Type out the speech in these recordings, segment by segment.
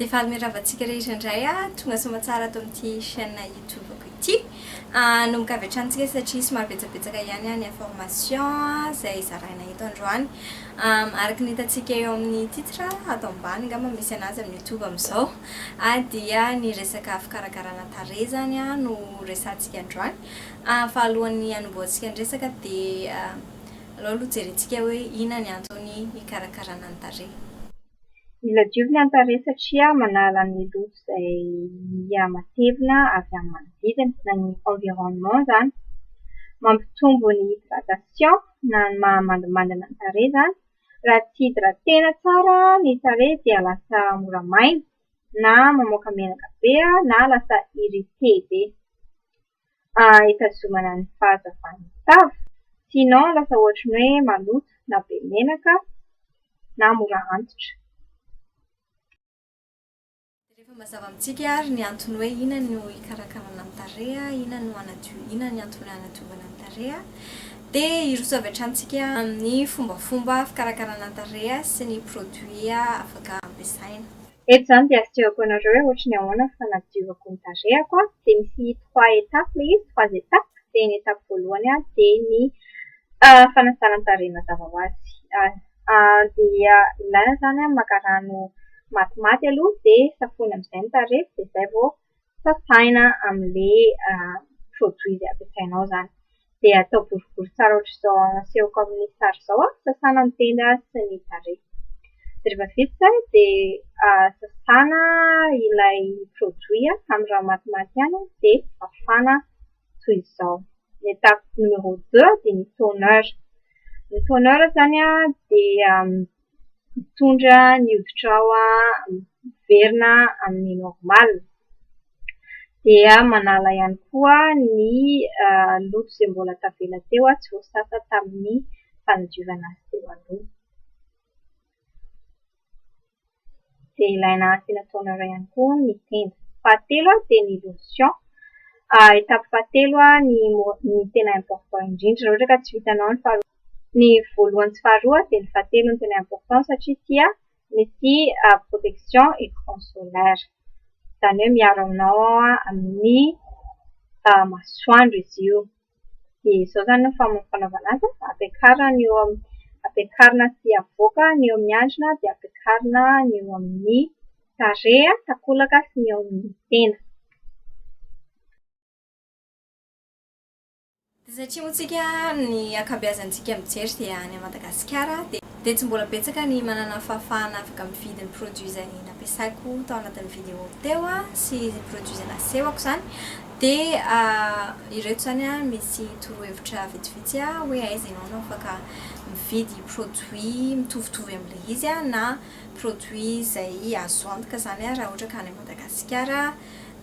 Dia faly mirava antsika rehetra indray tonga soamantsara ato amin'ity chaîne YouTube-ko ity. Hanomboka avy hatrany isika satria somary betsabetsaka ihany ny information izay zaraina eto androany. Araka ny hitantsika eo amin'ny titre ato ambany angamba misy anazy amin'ny YouTube amin'izao dia ny resaka fikarakarana tarehy izany no resahantsika androany. Fa alohan'ny hanombohantsika ny resaka dia Alao aloha jerentsika hoe inona ny antony hikarakarana ny tarehy. Mila diovina ny tarehy satria manala ny loto izay miha matevina avy amin'ny manodidina na ny environnement izany. Mampitombo ny hydratation na ny maha mandimandina ny tarehy izany. Raha tsy hydratena tsara ny tarehy dia lasa mora maina na mamoaka menaka be na lasa irrité be. ah itazomana ny fahazavan'ny tavy sinon lasa ohatry ny hoe maloto na be menaka na mora antitra. Dia rehefa mazava amintsika ary ny antony hoe inona no hikarakarana ny tarehy, inona no hanadio, inona ny antony hanadiovana ny tarehy, dia hiroso avy hatrany tsika amin'ny fombafomba fikarakarana ny tarehy sy ny produits afaka ampiasaina. Eto izany dia asehoko anareo hoe ohatry ny ahoana ny fanadiovako ny tarehako dia misy trois étapes ilay izy, trois étapes, dia ny étape voalohany dia ny fanasana ny tarehy mazava ho azy. Dia ilaina izany maka rano matimaty aloha dia safoina amin'izay ny tarehy dia izay vao sasaina amin'ilay produit izay ampiasainao izany. Dia atao boribory tsara ohatr'izao asehoko amin'ny sary izao an, sasana ny tenda sy ny tarehy. Dia rehefa vita izay an, dia sasana ilay produit amin'ny rano matimaty ihany dia fafana toy izao. Ny étape numéro deux dia ny toner. Ny toner izany an dia hitondra ny hoditrao hiverina amin'ny normal dia manala ihany koa ny loto izay mbola tavela teo tsy voasasa tamin'ny fanadiovana azy teo aloha dia ilaina asiana toner ihany koa ny tenda, fahatelo dia ny lotion etape fahatelo ny tena important indrindra raha ohatra ka tsy vitanao ny faharoa Ny voalohany sy faharoa dia ny fahatelo no tena important satria tia misy protection écran solaire izany hoe miaro anao amin'ny masoandro izy io dia izao izany no fanaovana azy ampiakarina ny eo amin'ny ampiakarina sy avoaka ny eo amin'ny andrina dia ampiakarina ny eo amin'ny tarehy takolaka sy ny eo amin'ny tenda Dia satria moa tsika ny ankabeazantsika mijery dia any Madagasikara dia tsy mbola betsaka ny manana fahafahana afaka mividy ny produit izay nampiasaiko tao anatin'ny video teo sy ny produit izay nasehoko izany dia ireto izany an misy torohevitra vitsivitsy an hoe aiza ianao no afaka mividy produit mitovitovy amin'ilay izy an na produit izay azo antoka izany an raha ohatra ka any Madagasikara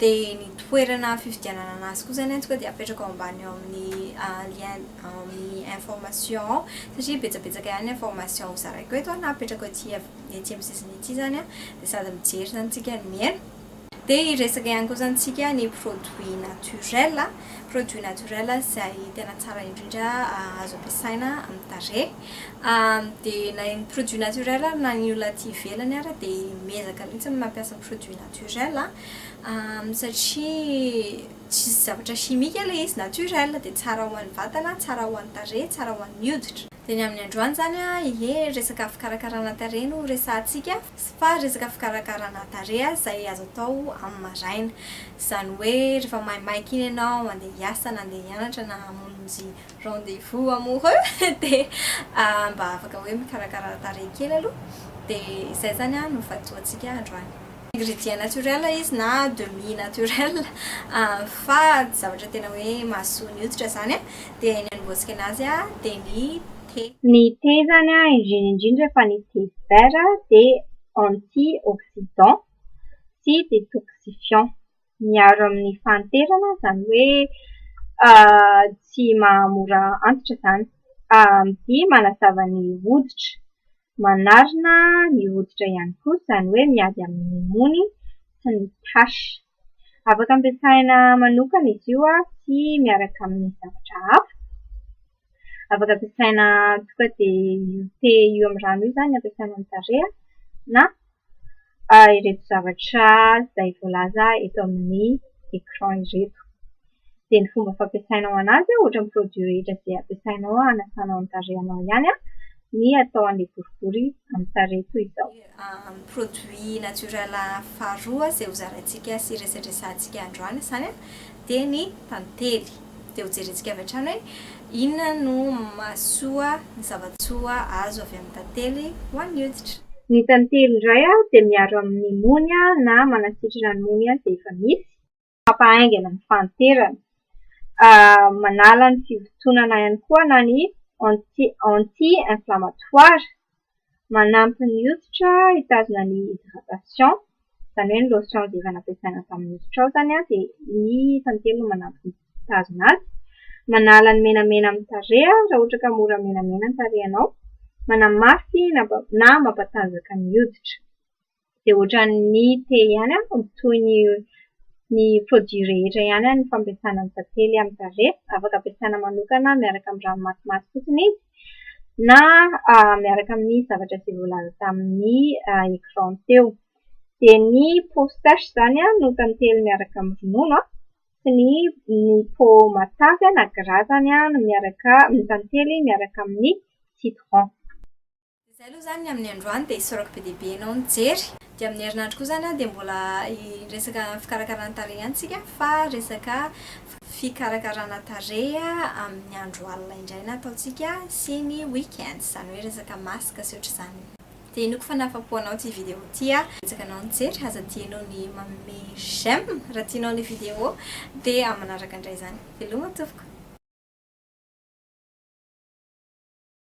Dia ny toerana fividianana anazy koa izany atsika dia apetrako ao ambany ao amin'ny lien ao amin'ny information ao satria betsabetsaka ihany ny information ho zaraiko eto na apetrako ety etsy amin'ny sisiny etsy izany dia sady mijery izany tsika no mihaino. Dia hiresaka ihany koa izany tsika ny produit naturel, produit naturel izay tena tsara indrindra azo ampiasaina amin'ny tarehy dia na ny produit naturel ary na ny olona aty ivelany ary dia miezaka mihitsy ny mampiasa produit naturel. naturel a, satria tsisy zavatra chimique ilay izy, naturel, dia tsara ho an'ny vatana, tsara ho an'ny tarehy, tsara ho an'ny hoditra. Dia ny amin'ny androany izany a, ie resaka fikarakarana tarehy no resahantsika, fa resaka fikarakarana tarehy izay azo atao amin'ny maraina. Izany hoe rehefa maimaika iny ianao handeha hiasa na handeha hianatra na hamonjy rendez-vous amoureux dia mba afaka hoe mikarakara tarehy kely aloha dia izay izany an no vatoantsika androany. Ingrédients naturels izy na demi naturel fa tsy zavatra tena hoe mahasoa ny hoditra izany an dia ny hanombohantsika anazy an dia ny thé. Ny thé izany an indrindra indrindra fa ny thé vert dia anti-oxydant sy détoxifiant. miaro amin'ny fahanterana izany hoe tsy mahamora antitra izany. AMD manazava ny hoditra, manarina ny hoditra ihany koa izany hoe miady amin'ny mony sy ny taches. Afaka ampiasaina manokana izy io sy miaraka amin'ny zavatra hafa. Afaka ampiasaina tonga dia io te io amin'ny rano io izany ampiasaina amin'ny tarehy na ireto zavatra izay voalaza eto amin'ny écran ireto. Dia ny fomba fampiasanao an'azy an, ohatra ny produit rehetra izay ampiasainao hanasanao ny tarehinao ihany an, ny atao an'ilay boribory amin'ny tarehy toy izao. amin'ny produits naturels faharoa izay hozaraintsika sy resadresahantsika androany izany dia ny tantely. Dia hojerentsika avy hatrany hoe inona no mahasoa ny zava-tsoa azo avy amin'ny tantely ho an'ny hoditra. Ny tantely indray dia miaro amin'ny mony na manasitrana ny mony izay efa misy. Maka haingana ny fahanterana. Manala ny fivotonana ihany koa na ny anti inflammatoire. Manampy ny hoditra hitazona ny hydratation, izany hoe ny lotion izay efa nampiasaina tamin'ny hoditra ao izany an, dia ny tantely no manampy mitazona azy. Manala ny menamena amin'ny tarehy raha ohatra ka mora menamena ny tarehinao. Manamafy na mampatanjaka ny hoditra. dia ohatran'ny te ihany aho mitohy ny ny produit rehetra ihany aho ny fampiasana ny tantely amin'ny tarehy, afaka ampiasana manokana miaraka amin'ny ranomasimamy fotsiny izy na miaraka amin'ny zavatra izay voalaza tamin'ny écran teo. Dia ny peau sèche izany an no tantely miaraka amin'ny ronono an, sy ny ny peau matavy na gras izany an no miaraka no tantely miaraka amin'ny citron. Izay aloha izany ny amin'ny androany dia isaorako be dia be ianao nijery. Dia amin'ny herinandro koa izany dia mbola hiresaka fikarakarana tarehy ihany isika fa resaka fikarakarana tarehy amin'ny andro alina indray no ataontsika sy ny week-ends, izany hoe resaka masque sy ohatr'izany. Dia inoako fa nahafa-po anao ity vidéo ity aho. Betsaka anao nijery, aza adino ny manome j'aime raha tianao ilay vidéo dia amin'ny manaraka indray izany. Veloma tompoko.